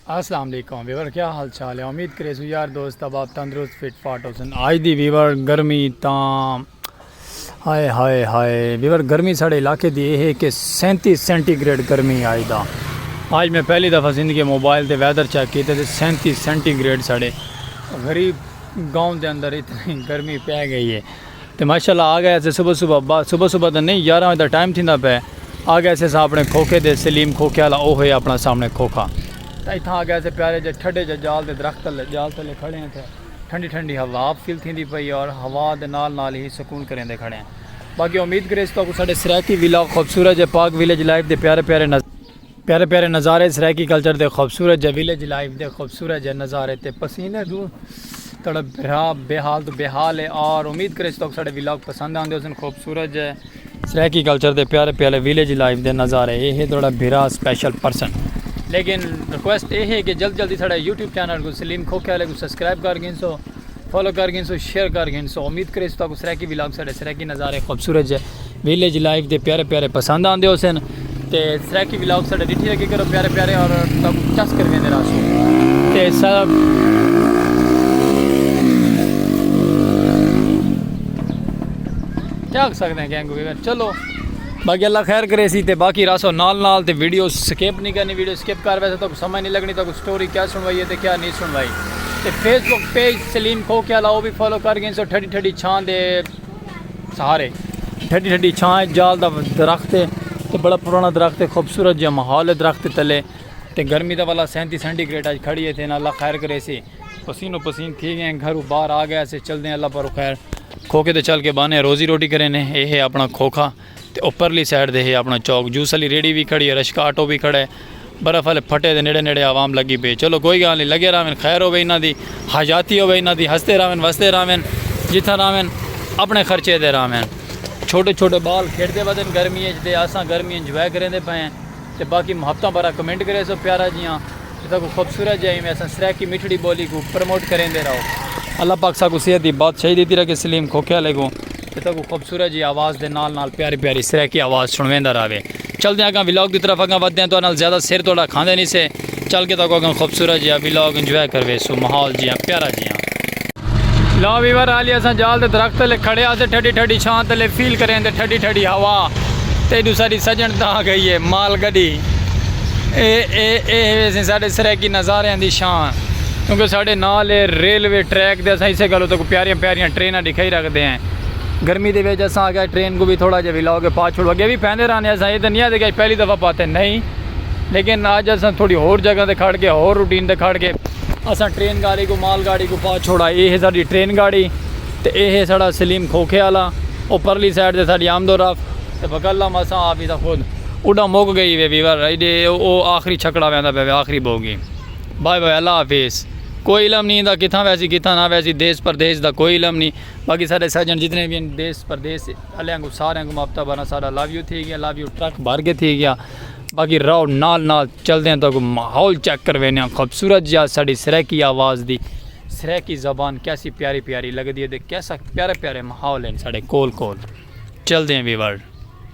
السلام علیکم ویور کیا حال چال ہے امید کرے سو یار دوست اب آپ تندرست فٹ فاٹ ہو سن آج دی ویور گرمی تاں ہائے ہائے ہائے ویور گرمی ساڑے علاقے دی اے ہے کہ سینتی سینٹی گریڈ گرمی آئی دا آج میں پہلی دفعہ زندگی موبائل تے ویدر چیک کیتا تے سینتی سینٹی گریڈ ساڑے غریب گاؤں دے اندر اتنی گرمی پہ گئی ہے تے ماشاءاللہ آ گئے سے صبح صبح صبح صبح دا نہیں یارہ وجہ دا ٹائم تھیندا پہ آ گئے سے اپنے کھوکھے دے سلیم کھوکھے والا او ہوئے اپنا سامنے کھوکھا تے اتھاں آ گئے سے پیارے جے ٹھڈے جے جال دے درخت تلے جال تلے کھڑے ہیں تھے ٹھنڈی ٹھنڈی ہوا آپ فیل تھیندی پئی ہے اور ہوا دے نال نال ہی سکون کریندے کھڑے ہیں باقی امید کرے اس تاکو ساڈے سرائیکی ویلاگ خوبصورت جے پاک ویلیج لائف دے پیارے پیارے نظر پیارے پیارے نظارے سرائیکی کلچر دے خوبصورت جے ویلیج لائف دے خوبصورت جے نظارے تے پسینے دوں تڑپ بھرا بے حال تو بے حال ہے اور امید کرے اس تاکو ساڈے ویلاگ پسند آندے حسن خوبصورت جے سرائیکی کلچر دے پیارے پیالے ویلیج لائف دے نظارے اے ہے تہاڈا بھرا سپیشل پرسن۔ لیکن ریکویسٹ اے ہے کہ جلد جلدی ساڈا یوٹیوب چینل کوں سلیم کھوکھے آلے کوں سبسکرائب کر گھنسو فالو کر گھنسو شیئر کر گھنسو امید کریسوں تہاکوں سرائیکی ولاگ ساڈے سرائیکی نظارے خوبصورت جے ویلیج لائف دے پیارے پیالے پسند آندے ہوسن۔ تے سرائیکی ولاگ ساڑھے ڈٹھی لگے کرو پیارے پیارے اور تم چس کر ویندے راسو تے سب کیا کر سکتے ہیں گینگ ہو گئے چلو باقی اللہ خیر کرے سی تے باقی راسو نال نال تے ویڈیو سکیپ نہیں کرنی ویڈیو سکیپ کر ویسے تو کوئی سمجھ نہیں لگنی تو کوئی سٹوری کیا سنوائی ہے تے کیا نہیں سنوائی تے فیس بک پیج سلیم کھو کیا لاؤ بھی فالو کر گئے سو ٹھڑی ٹھڑی چھان دے سہارے ٹھڈی ٹھڈی چھاں اچ جال دا درخت ہے تے بڑا پرانا درخت ہے خوبصورت جہاں ماحول ہے درخت دے تلے تے گرمی دا والا سینتی سینٹی گریڈ اچ کھڑی ہے تے اللہ خیر کرے سی پسین و پسین تھی گئے ہیں گھرو باہر آ گئے سے چل دے ہیں اللہ پر خیر کھوکے تے چل کے بانے روزی روٹی کرے نے اے ہے اپنا کھوکھا تے او پرلی سائیڈ دے ہے اپنا چوک جوس آلی ریڑھی وی کھڑی ہے رشکا آٹو وی کھڑا ہے برف آلے پھٹے دے نیڑے نیڑے عوام لگی پئی ہے چلو کوئی گال نی لگے راون خیر ہووے انہاں دی حیاتی ہووے انہاں دی ہسدے راون وسدے راون جتھاں راون اپنے خرچے تے راون چھوٹے چھوٹے بال کھیڈدے ودن گرمی اچ تے اساں گرمی انجوائے کریندے پئے ہیں تے باقی محبتاں بھرا کمنٹ کریسو پیارا جیاں تے ساکوں خوبصورت جیاں ایویں اساں سرائیکی میٹھڑی بولی کوں پروموٹ کریندے راو اللہ پاک ساکوں صحت دی بادشاہی دیتی رکھے سلیم کھوکھے آلے کوں اتھاں کو خوبصورت جی آواز دے نال نال پیاری پیاری سرائیکی آواز سنویندا راوے چلدے اگاں ولاگ دی طرف اگاں ودے ہیں تو انال زیادہ سر توڑا کھاندے نہیں سے چل کے تاکو اگاں خوبصورت جی ولاگ انجوائے کروے سو محول جی پیارا جی لا ویور آلی اساں جال دے درخت لے کھڑے آتے ٹھڈی ٹھڈی چھان تے لے فیل کریں دے ٹھڈی ٹھڈی ہوا تے دو ساری سجن تاں گئی ہے مال گڑی اے اے اے ویسیں ساڈے سرائیکی نظاریاں دی شان کیونکہ ساڈے نال اے ریلوے ٹریک دے اساں اسے گالو تکوں پیاریاں پیاریاں ٹریناں ڈکھائی رکھدے ہیں گرمی دے ویج اساں آگے ٹرین کو بھی تھوڑا جے ویلاؤ کے پاچ چھوڑو اگے بھی پہنے رہنے اساں یہ دنیا دے گئے پہلی دفعہ پاتے نہیں لیکن آج اساں تھوڑی ہور جگہ دے کھڑ کے ہور روٹین دے کھڑ کے اساں ٹرین گاڑی کو مال گاڑی کو پاچ چھوڑا اے ہے ساڈی ٹرین گاڑی تے اے ہے ساڈا سلیم کھوکھے والا او پرلی سائڈ دے ساڈی آمد و رفت تے بکلم اساں آپ ہی دا خود اڈاں مک گئی وے ویور ایڈے او آخری چھکڑا ویندا پے وے آخری بوگی بائے بائے اللہ حافظ کوئی علم نی ایندا کتھاں ویسی کتھاں نہ ویسی دیس پردیس دا کوئی علم نی باقی ساڈے سجن جتنے وی ہن دیس پردیس آلیاں کوں ساریاں کوں ماپ تبا نا ساڈا لو یو تھی گیا لو یو ٹرک بھر کے تھی گیا باقی راؤ نال نال چلدے ہیں تاکو ماحول چیک کر وینے ہیں خوبصورت جا ساڈی سریکی آواز دی سریکی زبان کیسی پیاری پیاری لگدی ہے دے کیسا پیارے پیارے ماحول ہیں ساڈے کول کول چلدے ہیں ویور۔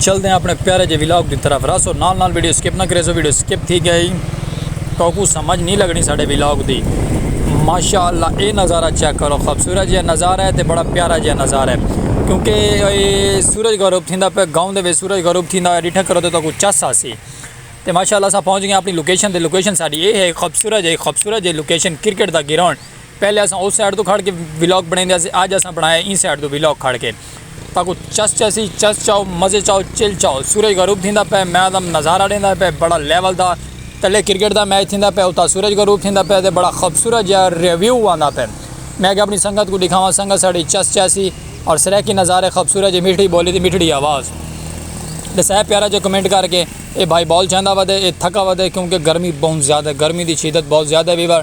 چلدے ہیں اپنے پیارے جے ولاگ دی طرف راسو نال نال ویڈیو سکپ نہ کریسو ویڈیو سکپ تھی گئی توکو سمجھ نہیں لگنی ساڑے ولاگ دی ماشاءاللہ اے نظارہ چیک کرو خوبصورت جے نظارہ ہے تے بڑا پیارا جے نظارہ ہے کیونکہ اے سورج غروب تھیندا پہ گاؤں دے وچ سورج غروب تھیندا ہے ڈٹھا کرو تے توکو چس آسی تے ماشاءاللہ سا پہنچ گئے اپنی لوکیشن تے لوکیشن ساڑی اے ہے خوبصورت جے خوبصورت جے لوکیشن کرکٹ دا گراؤنڈ پہلے اساں اس سائیڈ توں کھڑ کے ویلاگ بنڑیندے ہسے اج اساں بنڑایا ایں سائیڈ توں ویلاگ کھڑ کے تاکو چس چسی چس چاؤ مزے چاؤ چل چاؤ سورج غروب تھیندا پے میں دا نظارہ ڈیندا پے بڑا لیول دا تلے کرکٹ دا میچ تھیندا پے اتا سورج غروب تھیندا پے تے بڑا خوبصورت جیہا ریویو آندا پے میں اگے اپنی سنگت کو ڈکھاواں سنگت ساڈی چس چاسی اور سرائیکی نظارے خوبصورت جے میٹھی بولی تے میٹھڑی آواز ڈسائے پیارا جے کمنٹ کر کے اے بھائی بال چاہندا ودے اے تھکا ودے کیونکہ گرمی بہت زیادہ گرمی دی شدت بہت زیادہ ویور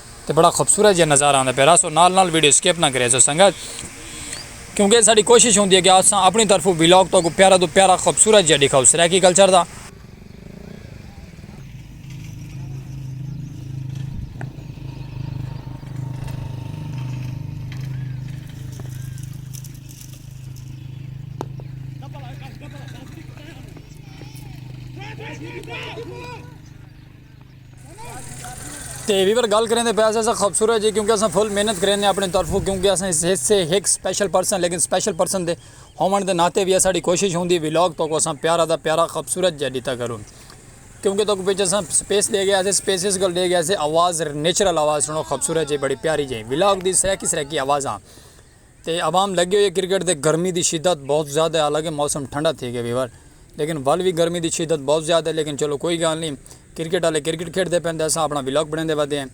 تے بڑا خوبصورت جیہا نظارہ آندا پیا رہسو نال نال ویڈیو سکپ نہ کریسو سنگت کیونکہ اے ساڈی کوشش ہوندی ہے کہ اساں اپنی طرفوں ولاگ تہاکو پیارا توں پیارا خوبصورت جیہا ڈکھاؤ سرائیکی کلچر دا۔ تے ویور گل کریں دے پیسے سے خوبصورت جی کیونکہ اساں فل محنت کریں دے اپنے طرفوں کیونکہ اساں اس حصے ایک سپیشل پرسن لیکن سپیشل پرسن دے ہومن دے ناتے بھی اساں دی کوشش ہوندی ویلوگ تو کو اساں پیارا دا پیارا خوبصورت جی دیتا کروں کیونکہ تو کو پیچھے اساں سپیس دے گیا اسے سپیس اس گل دے گیا اسے آواز نیچرل آواز سنو خوبصورت جی بڑی پیاری جی ویلوگ دی سرے کی سرے کی آواز آن تے عوام لگی ہوئی ہے کرکٹ دے گرمی دی شدت بہت زیادہ ہے حالانکہ موسم ٹھنڈا تھی گئے ویور لیکن ول وی گرمی دی شدت بہت زیادہ ہے لیکن چلو کوئی گال نی کرکٹ آلے کرکٹ کھیڈ دے پین تے اساں اپنا ولاگ بنیندے ودے ہیں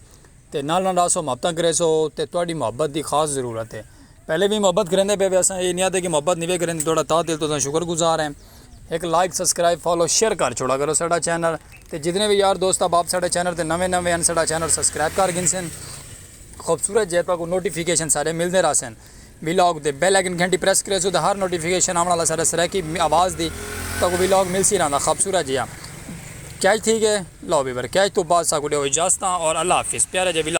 تے نال نال راسو محبتاں کریسو تے تہاڈی محبت دی خاص ضرورت ہے پہلے وی محبت کریندے پے وے اساں اے نی آدھے کہ محبت نی وے کریندے تہاڈا تہہ دل توں اساں شکر گزار ہیں ہک لائک سبسکرائب فالو شیئر کر چھوڑا کرو ساڈا چینل تے جتنے وی یار دوست احباب ساڈے چینل تے نویں نویں ہیں ساڈا چینل سبسکرائب کر گھنسن۔ خوبصورت جے پے کوں نوٹیفیکیشن ساڈے ملدے رہسن۔ وی لاگ تے بیل آئیکن گھنٹی پریس کریسو تاں ہر نوٹیفیکیشن آوݨ آلا ساڈے سرائیکی آواز دی تہاکوں وی لاگ ملسی رہندا خوبصورت جیہا کیچ تھی ڳئے لو ویور کیچ توں بعد ساکوں ݙیو اجازتاں اور اللہ حافظ پیارے جے وی لاگ